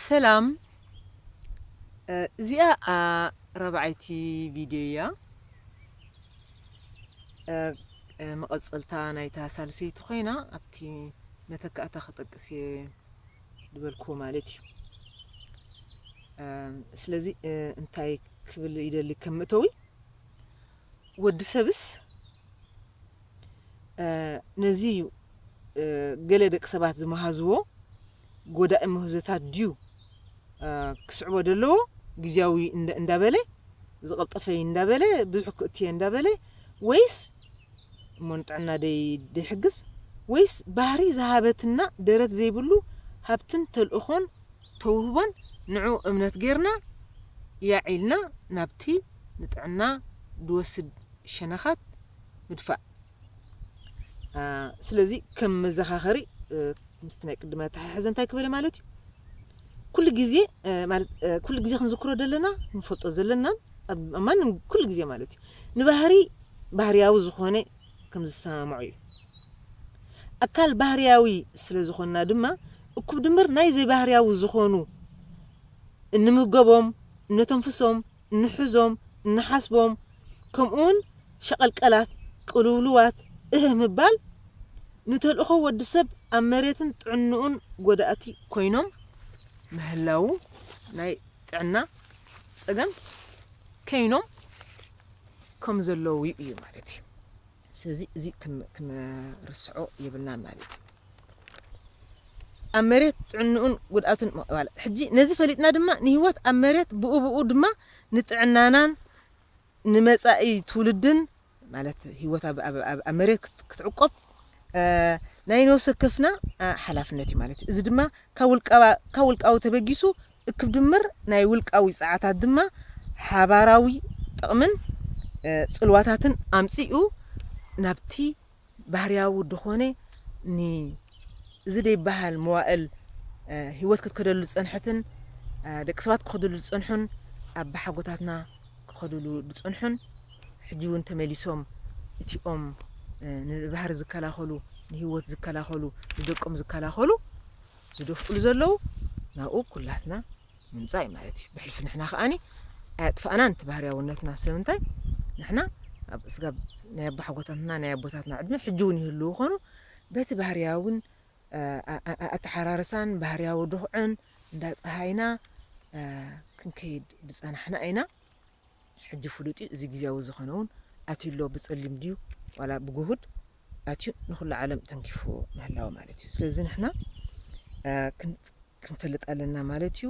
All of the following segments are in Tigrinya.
ሰላም እዚኣ ራብዓይቲ ቪድዮ እያ መቐፀልታ ናይታ ሳልሰይቲ ኮይና ኣብቲ መተካእታ ክጠቅስ እየ ዝበልክዎ ማለት እዩ ስለዚ እንታይ ክብል ይደሊ ከም መእተዊ ወዲ ሰብስ ነዚ እዩ ገለ ደቂ ሰባት ዝመሃዝዎ ጎዳኢ ምህዞታት ድዩ ክስዕቦ ደለዎ ግዜያዊ እንዳበለ ዝቕልጠፈይ እንዳበለ ብዙሕ ክእትየ እንዳበለ ወይስ እሞ ንጥዕና ደይሕግዝ ወይስ ባህሪ ዝሃበትና ደረት ዘይብሉ ሃብትን ተልእኾን ተውህቦን ንዑ እምነት ጌርና ያዕ ኢልና ናብቲ ንጥዕና ድወስድ ሸነኻት ምድፋእ ስለዚ ከም መዘኻኸሪ ምስቲ ናይ ቅድመ ኣተሓሕዘ እንታይ ክበለ ማለት እዩ ኩሉ ግዜ ማለት ኩሉ ግዜ ክንዝክሮ ዘለና ንፈልጦ ዘለናን ኣብ ማንም ኩሉ ግዜ ማለት እዩ ንባህሪ ባህርያዊ ዝኾነ ከም ዝሰማምዑ እዩ ኣካል ባህርያዊ ስለ ዝኾንና ድማ እኩብ ድምር ናይ ዘይባህርያዊ ዝኾኑ እንምገቦም እነተንፍሶም እንሕዞም እንሓስቦም ከምኡውን ሸቐልቀላት ቅልውልዋት እህ ምባል ንተልእኾ ወዲ ሰብ ኣብ መሬትን ጥዕንኡን ጎዳእቲ ኮይኖም ምህላዉ ናይ ጥዕና ጸገም ከይኖም ከም ዘለዉ እዩ ማለት እዩ። ስለዚ እዚ ክንርስዖ የብልናን ማለት እዩ። ኣብ መሬት ጥዕንኡን ጉድኣቱን ምቕባል ሕጂ ነዚ ፈሊጥና ድማ ንህይወት ኣብ መሬት ብኡብኡ ድማ ንጥዕናናን ንመጻኢ ትውልድን ማለት ህይወት ኣብ መሬት ክትዕቆብ ናይ ነብሲ ወከፍና ሓላፍነት እዩ ማለት እዩ። እዚ ድማ ካብ ውልቃዊ ተበጊሱ እክብ ድምር ናይ ውልቃዊ ጸዓታት ድማ ሓባራዊ ጥቕምን ጽልዋታትን ኣምጺኡ ናብቲ ባህርያዊ ድኾነ ን እዚ ደይበሃል መዋእል ህይወት ክትከደሉ ዝጸንሐትን ደቂ ሰባት ክኸድሉ ዝጸንሑን ኣባሓጎታትና ክኸድሉ ዝጸንሑን ሕጂ እውን ተመሊሶም እቲኦም ንባህሪ ዝከላኸሉ ንህይወት ዝከላኸሉ ንደቆም ዝከላኸሉ ዝደፍእሉ ዘለዉ ናብኡ ኩላትና ምምጻእ እዩ ማለት እዩ ብሕልፊ ንሕና ከኣኒ ኣያጥፋእናን እቲ ባህርያውነትና ስለምንታይ ንሕና ኣብ እስጋብ ናይ ኣቦሓጎታትና ናይ ኣቦታትና ዕድመ ሕጂ እውን ይህልው ኾኑ በቲ ባህርያውን ኣተሓራርሳን ባህርያዊ ዱኽዕን እንዳ ፀሃይና ክንከይድ ዝፀናሕና ኢና ሕጂ ፍሉጥ'ዩ እዚ ግዝያዊ ዝኾነውን ኣትዩ'ሎ ብጸሊም ድዩ ዋላ ብግሁድ ኣትዩ ንኹሉ ዓለም ተንኪፉ ምህላዉ ማለት'ዩ ስለዚ ንሕና ክንፈልጥ ኣለና ማለት'ዩ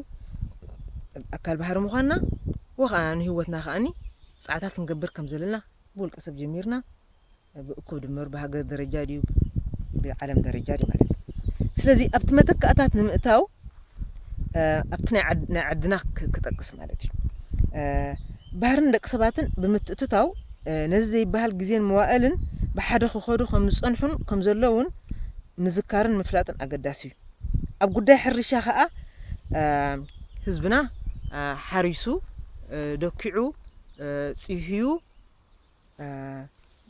ኣካል ባህሪ ምዃንና ወኸኣ ንህይወትና ከኣኒ ጻዕታት ክንገብር ከምዘለና ብውልቀ ሰብ ጀሚርና ብእኩብ ድምር ብሃገር ደረጃ ድዩ ብዓለም ደረጃ ድዩ ማለት እዩ ስለዚ ኣብቲ መተካእታት ንምእታው ኣብቲ ናይ ዓድና ክጠቅስ ማለት እዩ ባህርን ደቂ ሰባትን ብምትእትታው ነዚ ዘይበሃል ግዜን መዋእልን ብሓደ ክኸዱ ከም ዝጸንሑን ከም ዘለውን ምዝካርን ምፍላጥን ኣገዳሲ እዩ ኣብ ጉዳይ ሕርሻ ከዓ ህዝብና ሓሪሱ ደኪዑ ጽህዩ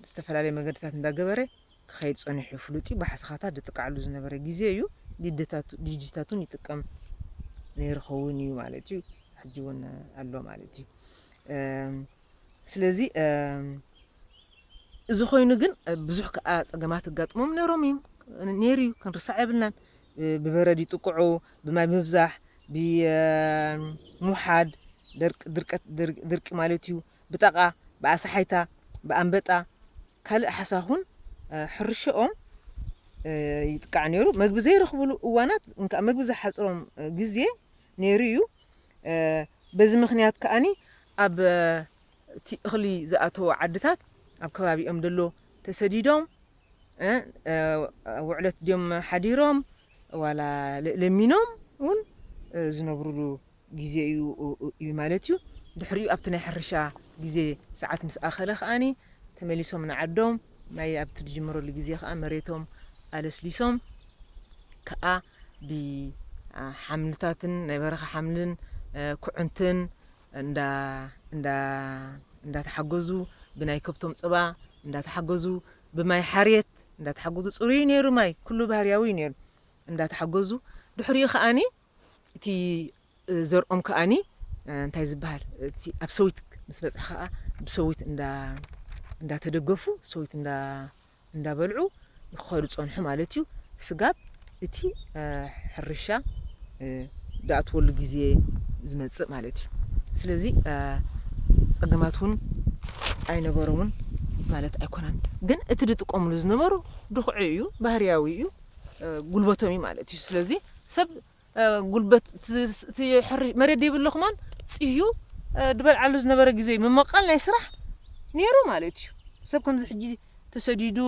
ዝተፈላለየ መገድታት እንዳገበረ ክኸይድ ጸኒሑ እዩ። ፍሉጥ እዩ፣ ባሕስኻታት ዝጥቃዓሉ ዝነበረ ግዜ እዩ። ዲደታቱ ዲጂታቱን ይጥቀም ነይሩ ኸውን እዩ ማለት እዩ። ሕጂ እውን ኣሎ ማለት እዩ። ስለዚ እዚ ኮይኑ ግን ብዙሕ ከዓ ጸገማት እጋጥሞም ነይሮም እዩ ነይሩ እዩ ክንርሳዕ የብልናን። ብበረድ ይጥቅዑ፣ ብማይ ምብዛሕ፣ ብሙሓድ ድርቀት ድርቂ ማለት እዩ፣ ብጠቓ፣ ብኣሳሓይታ፣ ብኣንበጣ ካልእ ሓሳኹን ሕርሸኦም ይጥቃዕ ነይሩ። መግቢ ዘይረኽቡሉ እዋናት እንከኣ መግቢ ዝሓጽሮም ግዜ ነይሩ እዩ። በዚ ምክንያት ከኣ ኣብ እቲ እኽሊ ዝኣተዎ ዓድታት ኣብ ከባቢኦም ደሎ ተሰዲዶም ውዕለት ድዮም ሓዲሮም ዋላ ለሚኖም እውን ዝነብሩሉ ግዜ እዩ እዩ ማለት እዩ። ድሕሪኡ ኣብቲ ናይ ሕርሻ ግዜ ሰዓት ምስ ኣኸለ ከኣ ተመሊሶም ንዓዶም ማይ ኣብቲ ዝጅመረሉ ግዜ ከኣ መሬቶም ኣለስሊሶም ከኣ ብሓምልታትን ናይ በረኻ ሓምልን ኩዕንትን እንዳ እንዳ እንዳተሓገዙ ብናይ ከብቶም ጽባ እንዳተሓገዙ ብማይ ሓርየት እንዳተሓገዙ ጽሩይ እዩ ነይሩ ማይ ኩሉ ባህርያዊ እዩ ነይሩ እንዳተሓገዙ ድሕሪኡ ከኣ እቲ ዘርኦም ከኣኒ እንታይ ዝብሃል እቲ ኣብ ሰዊት ምስ በጽሐ ከኣ ብሰዊት እንዳ እንዳ ተደገፉ ሰዊት እንዳ እንዳ በልዑ ክኸዱ ጸንሑ ማለት እዩ። ስጋብ እቲ ሕርሻ ድኣትወሉ ግዜ ዝመጽእ ማለት እዩ። ስለዚ ጸገማት እውን ኣይነበሮምን ማለት ኣይኮነን። ግን እቲ ዝጥቀምሉ ዝነበሩ ድኹዒ እዩ፣ ባህርያዊ እዩ፣ ጉልበቶም እዩ ማለት እዩ። ስለዚ ሰብ ጉልበት እቲ ሕርሽ መሬት ደይብሉ ክማን ጽህዩ ድበልዓሉ ዝነበረ ግዜ ምመቃል ናይ ስራሕ ነይሩ ማለት እዩ። ሰብ ከምዚ ሕጂ ተሰዲዱ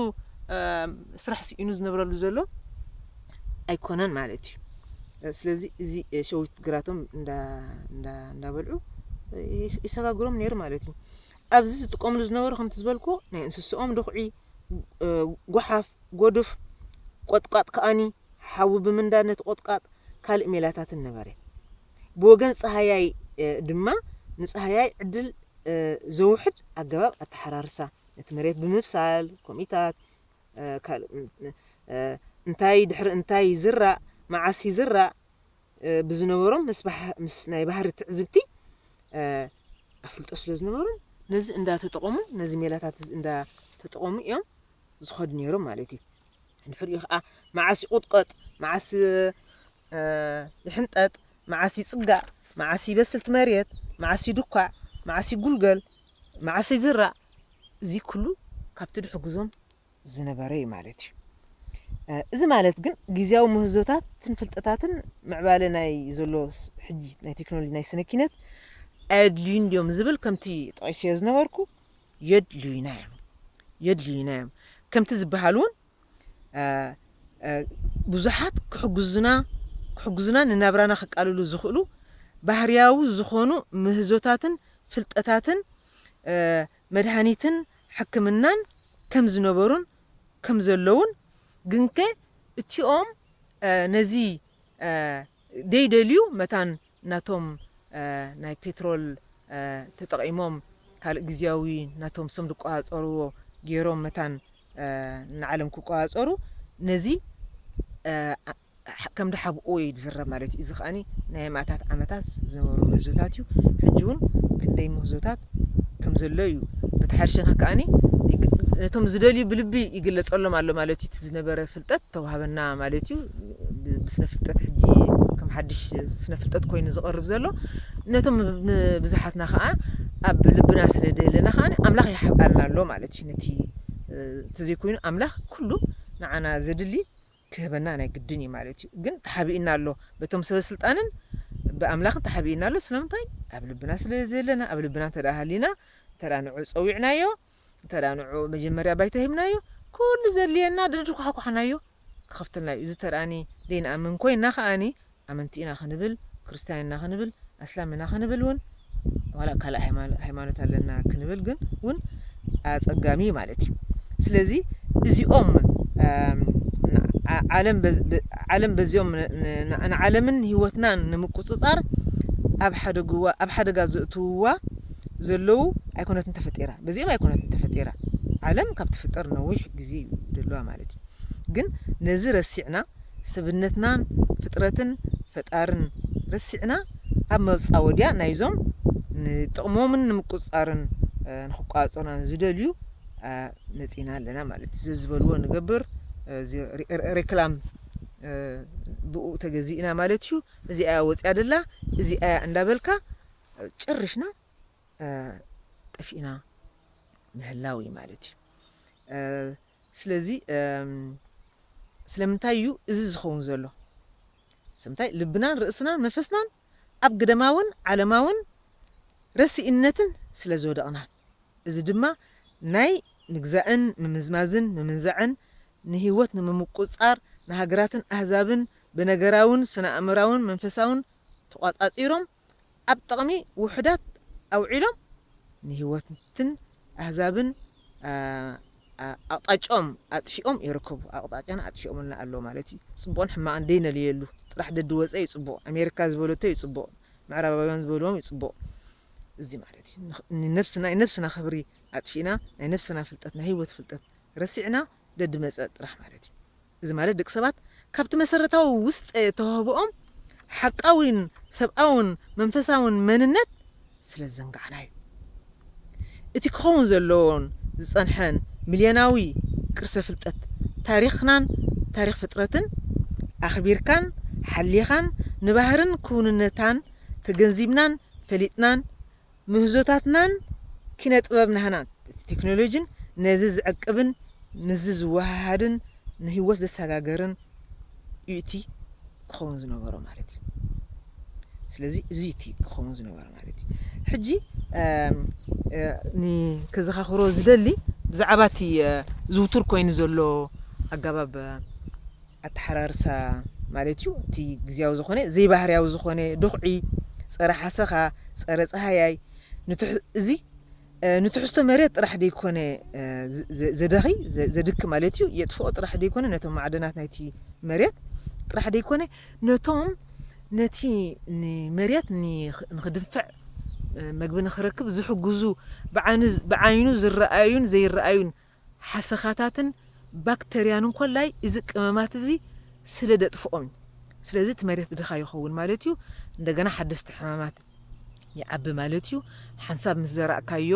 ስራሕ ስኢኑ ዝነብረሉ ዘሎ ኣይኮነን ማለት እዩ። ስለዚ እዚ ሸዊት ግራቶም እንዳበልዑ ይሰጋግሮም ነይሩ ማለት እዩ ኣብዚ ዝጥቀምሉ ዝነበሩ ከምቲ ዝበልኩ ናይ እንስስኦም ድኹዒ ጎሓፍ ጎዱፍ ቆጥቋጥ ከኣኒ ሓዊ ብምንዳድ ነቲ ቁጥቛጥ ካልእ ሜላታትን ነበረ። ብወገን ጸሃያይ ድማ ንጸሃያይ ዕድል ዘውሕድ ኣገባብ ኣተሓራርሳ፣ ነቲ መሬት ብምብሳል፣ ኮሚታት፣ ካልእ እንታይ ድሕሪ እንታይ ይዝራእ፣ መዓስ ይዝራእ ብዝነበሮም ምስ ናይ ባህሪ ትዕዝብቲ ኣፍልጦ ስለ ዝነበሮም፣ ነዚ እንዳተጠቐሙ ነዚ ሜላታት እዚ እንዳተጠቐሙ እዮም ዝኸዱ ነይሮም ማለት እዩ። ድሕሪኡ ከኣ መዓስ ይቑጥቐጥ፣ መዓስ ይሕንጠጥ፣ መዓስ ይጽጋእ፣ መዓስ ይበስል እቲ መሬት፣ መዓስ ይድኳዕ፣ መዓስ ይጉልገል፣ መዓስ ይዝራእ፣ እዚ ኩሉ ካብቲ ድሕግዞም ዝነበረ እዩ ማለት እዩ። እዚ ማለት ግን ግዜያዊ ምህዞታትን ፍልጠታትን ምዕባለ ናይ ዘሎ ሕጂ ናይ ቴክኖሎጂ ናይ ስነ ኪነት ኣየድልዩን ድዮም ዝብል ከምቲ ጠቒሰዮ ዝነበርኩ የድልዩና እዮም የድልዩና እዮም ከምቲ ዝበሃል እውን ብዙሓት ክሕግዙና ክሕግዙና ንናብራና ክቃልሉ ዝኽእሉ ባህርያዊ ዝኾኑ ምህዞታትን ፍልጠታትን መድሃኒትን ሕክምናን ከም ዝነበሩን ከም ዘለዉን ግንከ እቲኦም ነዚ ደይደልዩ መታን ናቶም ናይ ፔትሮል ተጠቒሞም ካልእ ግዝያዊ ናቶም ስም ዝቆጻጸርዎ ጌሮም መታን ንዓለም ክቆጻጸሩ ነዚ ከም ድሓብእዎ እዩ ዝዝረብ ማለት እዩ። እዚ ከኣ ናይ ኣማእታት ዓመታት ዝነበሩ ምህዞታት እዩ። ሕጂ እውን ክንደይ ምህዞታት ከም ዘሎ እዩ። በቲ ሓደ ሸነኽ ከኣ ነቶም ዝደልዩ ብልቢ ይግለጸሎም ኣሎ ማለት እዩ። እቲ ዝነበረ ፍልጠት ተዋህበና ማለት እዩ። ብስነ ፍልጠት ሕጂ ከም ሓድሽ ስነ ፍልጠት ኮይኑ ዝቐርብ ዘሎ ነቶም ብዝሓትና ከኣ ኣብ ልብና ስለ ደለና ከኣ ኣምላኽ ይሓብኣልና ኣሎ ማለት እዩ ነቲ ተዘይኮይኑ ኣምላኽ ኩሉ ንዓና ዘድሊ ክህበና ናይ ግድን እዩ ማለት እዩ ግን ተሓቢእና ኣሎ በቶም ሰበ ስልጣንን ብኣምላኽ ተሓቢእና ኣሎ ስለምንታይ ኣብ ልብና ስለ ዘለና ኣብ ልብና እንተ ሃሊና እንተ ንዑ ጸዊዕናዮ እንተ ንዑ መጀመርያ ባይታ ሂብናዮ ኩሉ ዘድልየና ደድኳሕኳሕናዮ ክኸፍተልና እዩ። እዚ እንተ ደይንኣምን ኮይና ከኣ ኣመንቲ ኢና ክንብል ክርስትያን ኢና ክንብል ኣስላም ኢና ክንብል ውን ዋላ ካልእ ሃይማኖት ኣለና ክንብል ግን ውን ኣጸጋሚ እዩ ማለት እዩ። ስለዚ እዚኦም ዓለም በዚኦም ንዓለምን ህይወትናን ንምቁጽጻር ኣብ ሓደጋ ዘእትውዋ ዘለው ኣይኮነትን ተፈጢራ በዚኦም ኣይኮነትን ተፈጢራ ዓለም ካብ ትፍጠር ነዊሕ ግዜ እዩ ደለዋ ማለት እዩ ግን ነዚ ረሲዕና ሰብነትናን ፍጥረትን ፈጣርን ረሲዕና ኣብ መጻወድያ ናይዞም ንጥቕሞምን ንምቁጽጻርን ንክቋጸሩናን ዝደልዩ መጺና ኣለና ማለት እዩ ዘዝበልዎ ንገብር ሬክላም ብኡ ተገዚእና ማለት እዩ እዚኣያ ወጽያ ደላ እዚኣያ እንዳበልካ ጭርሽና ጠፊእና ምህላው እዩ ማለት እዩ ስለዚ ስለምንታይ እዩ እዚ ዝኸውን ዘሎ ስለምንታይ ልብናን ርእስናን መንፈስናን ኣብ ግደማውን ዓለማውን ረሲእነትን ስለ ዝወደቕና እዚ ድማ ናይ ምግዛእን ምምዝማዝን ምምንዛዕን ንህይወት ንምምቁጽጻር ንሃገራትን ኣህዛብን ብነገራውን ስነኣእምራውን መንፈሳውን ተቋጻጺሮም ኣብ ጥቕሚ ውሑዳት ኣውዒሎም ንህይወትን ኣህዛብን ኣቕጣጭኦም ኣጥፊኦም ይርከቡ። ኣቕጣጫና ኣጥፊኦምልና ኣለዉ ማለት እዩ። ጽቡቕን ሕማቕን ደይነልየሉ ጥራሕ ደድወጸ እዩ ጽቡቕ፣ ኣሜሪካ ዝበለቶ እዩ ጽቡቕ፣ ምዕራባውያን ዝበልዎም እዩ ጽቡቕ እዚ ማለት እዩ። ንነብስና ናይ ነብስና ክብሪ ኣጥፊእና ናይ ነብስና ፍልጠት ናይ ህይወት ፍልጠት ረሲዕና ደድመጸ ጥራሕ ማለት እዩ። እዚ ማለት ደቂ ሰባት ካብቲ መሰረታዊ ውስጠ ተዋህቦኦም ሓቃዊን ሰብኣውን መንፈሳውን መንነት ስለ ዝዘንጋዕና እዩ። እቲ ክኸውን ዘለዎን ዝጸንሐን ሚልዮናዊ ቅርሰ ፍልጠት ታሪኽናን ታሪኽ ፍጥረትን ኣኽቢርካን ሓሊኻን ንባህርን ክውንነታን ተገንዚብናን ፈሊጥናን ምህዞታትናን ኪነ ጥበብ ናህና እቲ ቴክኖሎጂን ነዚ ዝዕቅብን ምስዚ ዝወሃሃድን ንህይወት ዘሰጋገርን እዩ እቲ ክኸውን ዝነበሮ ማለት እዩ ስለዚ እዚ እቲ ክኸውን ዝነበረ ማለት እዩ ሕጂ ከዘኻኽሮ ዝደሊ ብዛዕባ እቲ ዝውቱር ኮይኑ ዘሎ ኣገባብ ኣተሓራርሳ ማለት እዩ። እቲ ግዝያዊ ዝኾነ ዘይባህርያዊ ዝኾነ ዱኽዒ፣ ጸረ ሓሰኻ፣ ጸረ ጸሃያይ፣ እዚ ንትሕዝቶ መሬት ጥራሕ ደይኮነ ዘደኺ ዘድኪ ማለት እዩ የጥፍኦ ጥራሕ ደይኮነ ነቶም ማዕደናት ናይቲ መሬት ጥራሕ ደይኮነ ነቶም ነቲ ንመሬት ንክድንፍዕ መግቢ ንክረክብ ዝሕግዙ ብዓይኑ ዝረኣዩን ዘይረኣዩን ሓሰኻታትን ባክተርያን እንኮላይ እዚ ቅመማት እዚ ስለ ደጥፍኦም እዩ ስለዚ እቲ መሬት ድኻ ይኸውን ማለት እዩ እንደገና ሓደስቲ ሕማማት ይዓቢ ማለት እዩ ሓንሳብ ምስ ዘራእካዮ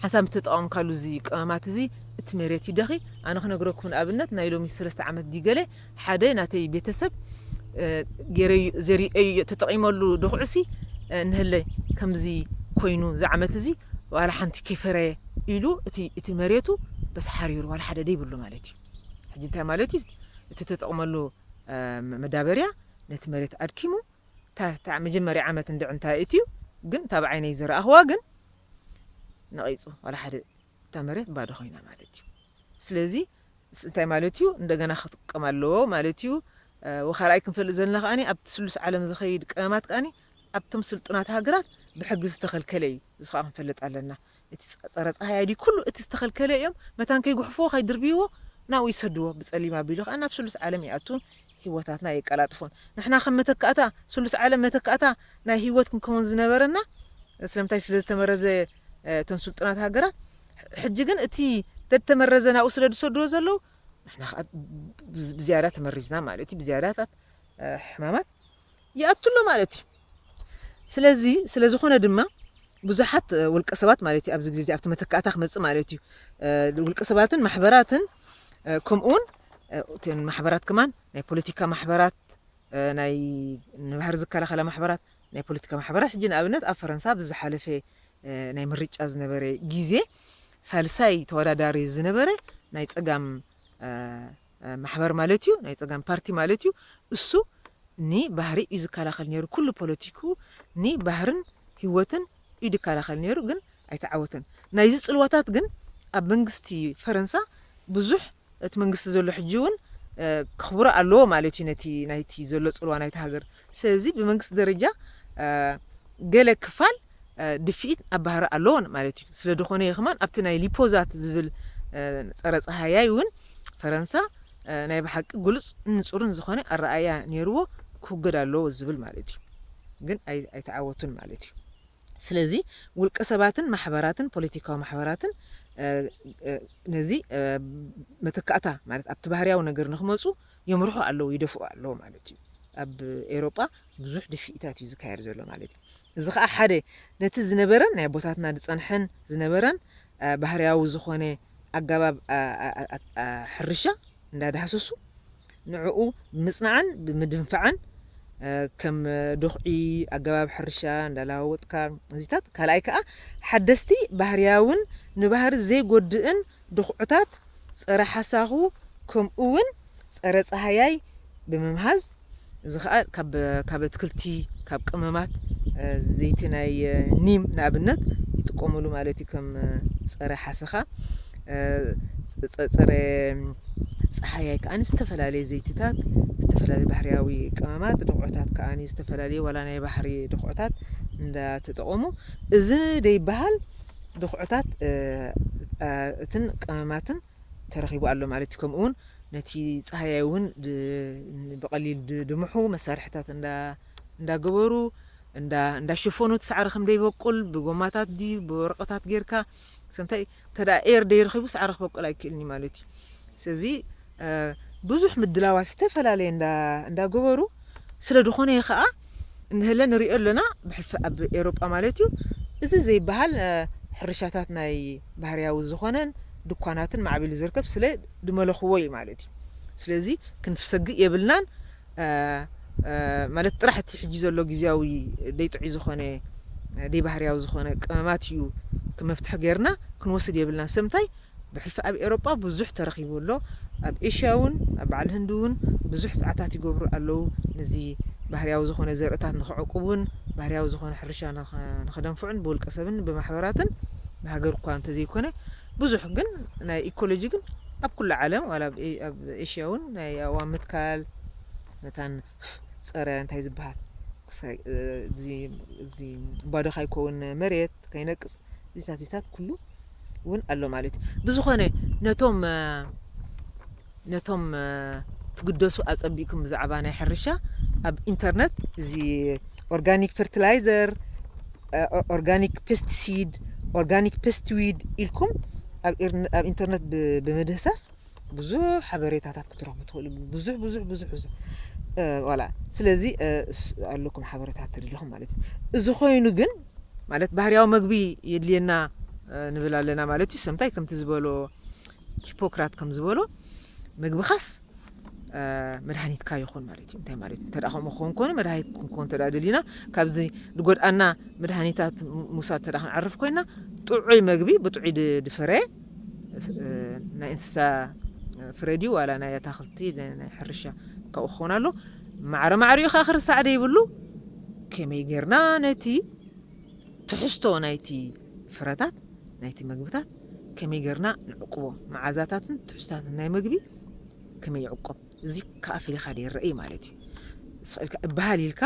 ሓንሳብ ምስ ተጠቐምካሉ እዚ ቅመማት እዚ እቲ መሬት ይደኺ ኣነ ክነግረኩም ንኣብነት ናይ ሎሚ ሰለስተ ዓመት ድዩ ገለ ሓደ ናተይ ቤተሰብ ጌረዩ ዘሪኤዩዮ ተጠቂመሉ ዶክዕሲ እንሀለ ከምዚ ኮይኑ እዚ ዓመት እዚ ዋላ ሓንቲ ከይፈረየ ኢሉ እቲ እቲ መሬቱ በስ ሓሪሩ ዋላ ሓደ ደይብሉ ማለት እዩ ሕጂ እንታይ ማለት እዩ እቲ ተጠቅመሉ መዳበርያ ነቲ መሬት ኣድኪሙ እታ መጀመርያ ዓመት እንድዒ እንታይ እትዩ ግን እታ ብዓይነይ ዝረኣክዋ ግን ነቂፁ ዋላ ሓደ እታ መሬት ባዶ ኮይና ማለት እዩ ስለዚ እንታይ ማለት እዩ እንደገና ክጥቀም ኣለዎ ማለት እዩ ወካልኣይ ክንፈልጥ ዘለና ከኣ ኣብቲ ስሉስ ዓለም ዝኸይድ ቀመማት ከኣ ኣብቶም ስልጡናት ሃገራት ብሕጊ ዝተኸልከለ እዩ እዚ ከዓ ክንፈልጥ ኣለና እቲ ፀረ ፀሃይ ኣይዲ ኩሉ እቲ ዝተኸልከለ እዮም መታን ከይጉሕፍዎ ከይድርብይዎ ናብኡ ይሰድዎ ብፀሊም ኣቢሉ ከዓ ናብ ስሉስ ዓለም ይኣቱን ህይወታትና የቀላጥፎን ንሕና ከም መተካእታ ስሉስ ዓለም መተካእታ ናይ ህይወት ክንከውን ዝነበረና ስለምንታይ ስለዝተመረዘ እተን ስልጡናት ሃገራት ሕጂ ግን እቲ ተድተመረዘ ናብኡ ስለ ዝሰድዎ ዘለዉ ንሕና ከዓ ብዝያዳ ተመሪዝና ማለት እዩ ብዝያዳታት ሕማማት ይኣቱ ኣሎ ማለት እዩ ስለዚ ስለ ዝኾነ ድማ ብዙሓት ውልቀ ሰባት ማለት እዩ ኣብዚ ግዜ እዚ ኣብቲ መተካእታ ክመፅእ ማለት እዩ ውልቀ ሰባትን ማሕበራትን ከምኡውን እተን ማሕበራት ከማን ናይ ፖለቲካ ማሕበራት ናይ ንባህሪ ዝከላኸላ ማሕበራት፣ ናይ ፖለቲካ ማሕበራት፣ ሕጂ ንኣብነት ኣብ ፈረንሳ ኣብዚ ዝሓለፈ ናይ ምርጫ ዝነበረ ግዜ ሳልሳይ ተወዳዳሪ ዝነበረ ናይ ጸጋም ማሕበር ማለት እዩ፣ ናይ ጸጋም ፓርቲ ማለት እዩ፣ እሱ ንባህሪ እዩ ዝከላኸል ነይሩ፣ ኩሉ ፖለቲክኡ ንባህርን ህይወትን ኢዱ ይከላኸል ነይሩ ግን ኣይተዓወተን። ናይዚ ጽልዋታት ግን ኣብ መንግስቲ ፈረንሳ ብዙሕ እቲ መንግስቲ ዘሎ ሕጂ ውን ከኽብሮ ኣለዎ ማለት እዩ ነቲ ናይቲ ዘሎ ጽልዋ ናይታ ሃገር። ስለዚ ብመንግስቲ ደረጃ ገለ ክፋል ድፍኢት ኣብ ባህሪ ኣለዎ ማለት እዩ። ስለድኾነ እየ ከማን ኣብቲ ናይ ሊፖዛት ዝብል ጸረ ጸሃያይ ውን ፈረንሳ ናይ ብሓቂ ግሉጽ ንጹርን ዝኾነ ኣረኣእያ ኔርዎ ክውገድ ኣለዎ ዝብል ማለት እዩ ግን ኣይተዓወቱን ማለት እዩ ስለዚ ውልቀ ሰባትን ማሕበራትን ፖለቲካዊ ማሕበራትን ነዚ መተካእታ ማለት ኣብቲ ባህርያዊ ነገር ንክመጹ የምርሑ ኣለዉ ይደፍኡ ኣለዉ ማለት እዩ ኣብ ኤውሮጳ ብዙሕ ድፍኢታት እዩ ዝካየድ ዘሎ ማለት እዩ እዚ ከዓ ሓደ ነቲ ዝነበረን ናይ ኣቦታትና ዝጸንሐን ዝነበረን ባህርያዊ ዝኾነ ኣገባብ ሕርሻ እንዳዳህሰሱ ንዕኡ ብምጽናዕን ብምድንፋዕን ከም ዶኽዒ ኣገባብ ሕርሻ እንዳለዋወጥካ እዚታት ካልኣይ ከኣ ሓደስቲ ባህርያውን ንባህሪ ዘይጎድእን ዶኽዑታት ጸረ ሓሳኹ ከምኡውን ጸረ ጸሃያይ ብምምሃዝ እዚ ከኣ ካብ ካብ ኣትክልቲ ካብ ቅመማት ዘይቲ ናይ ኒም ንኣብነት ይጥቀሙሉ ማለት እዩ ከም ፀረ ሓሰኻ ፀረ ፀሓያይ ከዓኒ ዝተፈላለየ ዘይትታት ዝተፈላለየ ባህርያዊ ቅመማት ድኹዕታት ከዓኒ ዝተፈላለየ ዋላ ናይ ባህሪ ድኹዕታት እንዳተጠቐሙ እዚ ደይበሃል ድኹዕታት እትን ቅመማትን ተረኺቡ ኣሎ ማለት እዩ። ከምኡ እውን ነቲ ፃህያይ እውን ብቐሊል ድምሑ መሳርሕታት እንዳገበሩ እንዳሸፈኑ እቲ ሳዕሪ ከም ደይበቁል ብጎማታት ድዩ ብወረቐታት ጌርካ ሰምታይ እንተ ኤር ደይረኺቡ ሳዕሪ ክበቁል ኣይክእልን እዩ ማለት እዩ። ስለዚ ብዙሕ ምድላዋት ዝተፈላለየ እንዳገበሩ ስለ ድኾነየ ከኣ እንሀለ ንርእዮ ኣሎና ብሕልፊ ኣብ ኤሮጳ ማለት እዩ እዚ ዘይበሃል ሕርሻታት ናይ ባህርያዊ ዝኾነን ድኳናትን ማዕቢሉ ዝርከብ ስለ ድመለኹዎ እዩ ማለት እዩ ስለዚ ክንፍሰግእ የብልናን ማለት ጥራሕ እቲ ሕጂ ዘሎ ግዝያዊ ደይጥዑይ ዝኾነ ደይባህርያዊ ዝኾነ ቀመማት እዩ ክመፍትሒ ገርና ክንወስድ የብልናን ሰምታይ ብሕልፊ ኣብ ኤሮጳ ብዙሕ ተረኺቡ ኣሎ ኣብ ኤሽያ ውን ኣብ በዓል ህንዲ ውን ብዙሕ ጸዓታት ይገብሩ ኣለዉ ንዚ ባህርያዊ ዝኾነ ዘርእታት ንኽዕቁቡን ባህርያዊ ዝኾነ ሕርሻ ንኽደንፍዑን ብውልቀ ሰብን ብማሕበራትን ብሃገር እኳ እንተዘይኮነ ብዙሕ ግን ናይ ኢኮሎጂ ግን ኣብ ኩሉ ዓለም ዋላ ኣብ ኤሽያ ውን ናይ ኣእዋም ምትካል መታን ጸረ እንታይ ዝበሃል እዚ ባዶ ካይኮውን መሬት ከይነቅጽ እዚታት እዚታት ኩሉ ውን ኣሎ ማለት እዩ። ብዝኾነ ነቶም ነቶም ትግደሱ ኣጸቢቅኩም ብዛዕባ ናይ ሕርሻ ኣብ ኢንተርነት እዚ ኦርጋኒክ ፈርትላይዘር ኦርጋኒክ ፐስትሲድ ኦርጋኒክ ፐስትዊድ ኢልኩም ኣብ ኢንተርነት ብምህሳስ ብዙሕ ሓበሬታታት ክትረኽቡ ትኽእሉ ብዙሕ ብዙሕ ብዙሕ ብዙሕ ዋላ ስለዚ ኣለኩም ሓበሬታት ትደልኹም ማለት እዩ እዚ ኮይኑ ግን ማለት ባህርያዊ መግቢ የድልየና ንብል ኣለና ማለት እዩ ሰምታይ ከምቲ ዝበሎ ሂፖክራት ከም ዝበሎ መግብኻስ መድሃኒትካ ይኹን ማለት እዩ እንታይ ማለት እንተ ከምኡ ክኸውን ኮነ መድሃኒት ክንከውን እንተ ደሊና ካብዚ ዝጎድኣና መድሃኒታት ምውሳድ እንተ ክንዕርፍ ኮይና ጥዑይ መግቢ ብጥዑይ ድፍረ ናይ እንስሳ ፍረ ድዩ ዋላ ናይ ኣታኽልቲ ናይ ሕርሻ ካብኡ ክኸውን ኣሎ ማዕረ ማዕሪኡ ከዓ ክርሳዕ ደይብሉ ከመይ ጌርና ነቲ ትሕዝቶ ናይቲ ፍረታት ናይቲ ምግብታት ከመይ ጌርና ንዕቅቦ መዓዛታትን ትሕዝታትን ናይ ምግቢ ከመይ ይዕቆብ እዚ ከዓ ፈሊኻ ይረአ ማለት እዩ ስኽእልካ እበሃል ኢልካ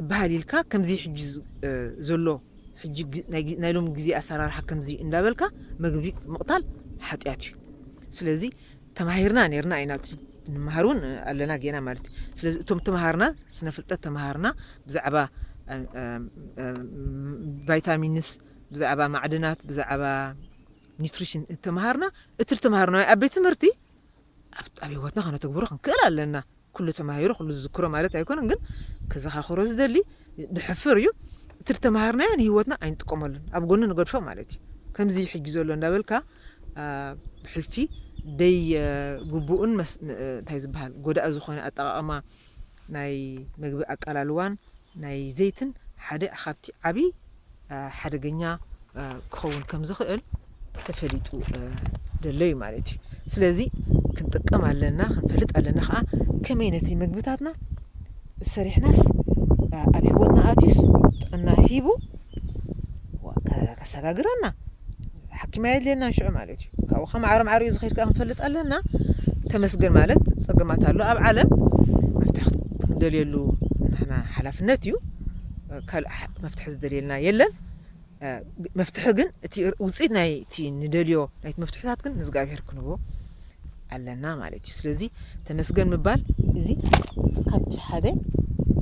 እብሃል ኢልካ ከምዚ ሕጂ ዘሎ ሕጂ ናይ ሎሚ ግዜ ኣሰራርሓ ከምዚ እንዳበልካ መግቢ ምቕታል ሓጢኣት እዩ ስለዚ ተማሂርና ነርና ኢና ንመሃር እውን ኣለና ጌና ማለት እዩ ስለዚ እቶም ተምሃርና ስነ ፍልጠት ተምሃርና ብዛዕባ ቫይታሚንስ ብዛዕባ ማዕድናት ብዛዕባ ኒትሪሽን ተምሃርና እቲ ተምሃርና ኣብ ቤት ትምህርቲ ኣብ ኣብ ህይወትና ከነተግብሮ ክንክእል ኣለና። ኩሉ ተማሂሩ ኩሉ ዝዝክሮ ማለት ኣይኮነን ግን ከዘኻኽሮ ዝደሊ ንሕፍር እዩ እቲ ዝተማሃርናዮ ንህይወትና ኣይንጥቀመሉን ኣብ ጎኒ ንገድፎ ማለት እዩ። ከምዚ ሕጂ ዘሎ እንዳበልካ ብሕልፊ ደይ ግቡእን እንታይ ዝበሃል ጎዳኢ ዝኾነ ኣጠቓቕማ ናይ መግቢ ኣቃላልዋን ናይ ዘይትን ሓደ ኻብቲ ዓቢ ሓደገኛ ክኸውን ከም ዝኽእል ተፈሊጡ ደሎ እዩ ማለት እዩ ስለዚ ክንጥቀም ኣለና ክንፈልጥ ኣለና ኸዓ ከመይ ነቲ መግብታትና ሰሪሕናስ ኣብ ሂወትና ኣትዩስ ጥዕና ሂቡ ከሰጋግረና ሓኪም ኣየድልየናን ሽዑ ማለት እዩ ካብኡ ከ ማዕረ ማዕሪኡ ዝኸይድ ከኣ ክንፈልጥ ኣለና ተመስገን ማለት ጸገማት ኣሎ ኣብ ዓለም መፍትሒ ክንደልየሉ ንሕና ሓላፍነት እዩ ካልእ መፍትሒ ዝደልየልና የለን መፍትሒ ግን እቲ ውፅኢት ናይቲ ንደልዮ ናይቲ መፍትሕታት ግን ንእግዚኣብሄር ክንህቦ ኣለና ማለት እዩ ስለዚ ተመስገን ምባል እዚ ካብቲ ሓደ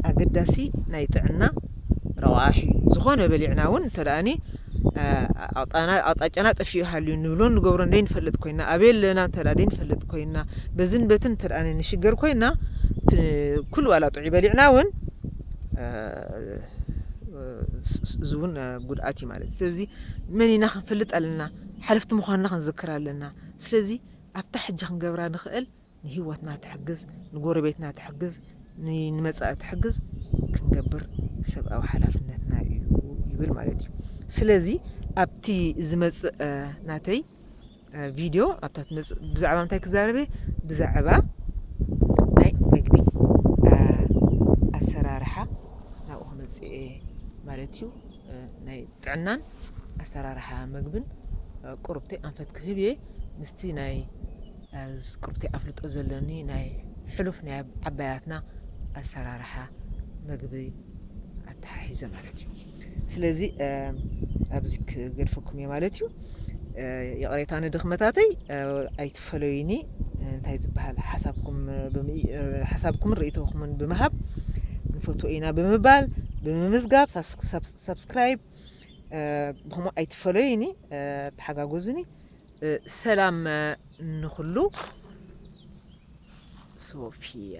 ኣገዳሲ ናይ ጥዕና ረቋሒ ዝኾነ በሊዕና እውን እንተደኣኒ ኣቕጣጫና ጠፊኡ ሃልዩ ንብሎ ንገብሮ እንደይንፈልጥ ኮይና ኣበይ ኣለና እንተ ደይንፈልጥ ኮይና በዝን በትን እንተ ንሽገር ኮይና ኩሉ ዋላ ጥዑይ በሊዕና እውን እዚ እውን ጉድኣት እዩ ማለት ስለዚ መን ኢና ክንፈልጥ ኣለና ሓለፍቲ ምዃንና ክንዝክር ኣለና ስለዚ ኣብታ ሕጂ ክንገብራ ንኽእል ንህይወትና ትሕግዝ፣ ንጎረቤትና ትሕግዝ፣ ንመጻኢ ትሕግዝ ክንገብር ሰብኣዊ ሓላፍነትና እዩ ይብል ማለት እዩ። ስለዚ ኣብቲ ዝመጽእ ናተይ ቪድዮ ኣብታ ትመጽእ ብዛዕባ እንታይ ክዛረብ እየ ብዛዕባ ናይ መግቢ ኣሰራርሓ ናብኡ ክመጽእ እየ ማለት እዩ። ናይ ጥዕናን ኣሰራርሓ መግብን ቁርብተይ ኣንፈት ክህብ እየ ምስቲ ናይ ቁርብተይ ኣፍልጦ ዘለኒ ናይ ሕሉፍ ናይ ዓባያትና ኣሰራርሓ መግቢ ኣተሓሒዘ ማለት እዩ ስለዚ ኣብዚ ክገድፈኩም እየ ማለት እዩ ይቕሬታ ንድኽመታተይ ኣይት ፈለዩኒ እንታይ ዝበሃል ሓሳብኩምን ርእይቶኹምን ብምሃብ ንፈትዎ ኢና ብምባል ብምምዝጋብ ሳብስክራይብ ብከምኡ ኣይትፈለዩኒ ተሓጋጎዝኒ ሰላም ንኹሉ ሶፊያ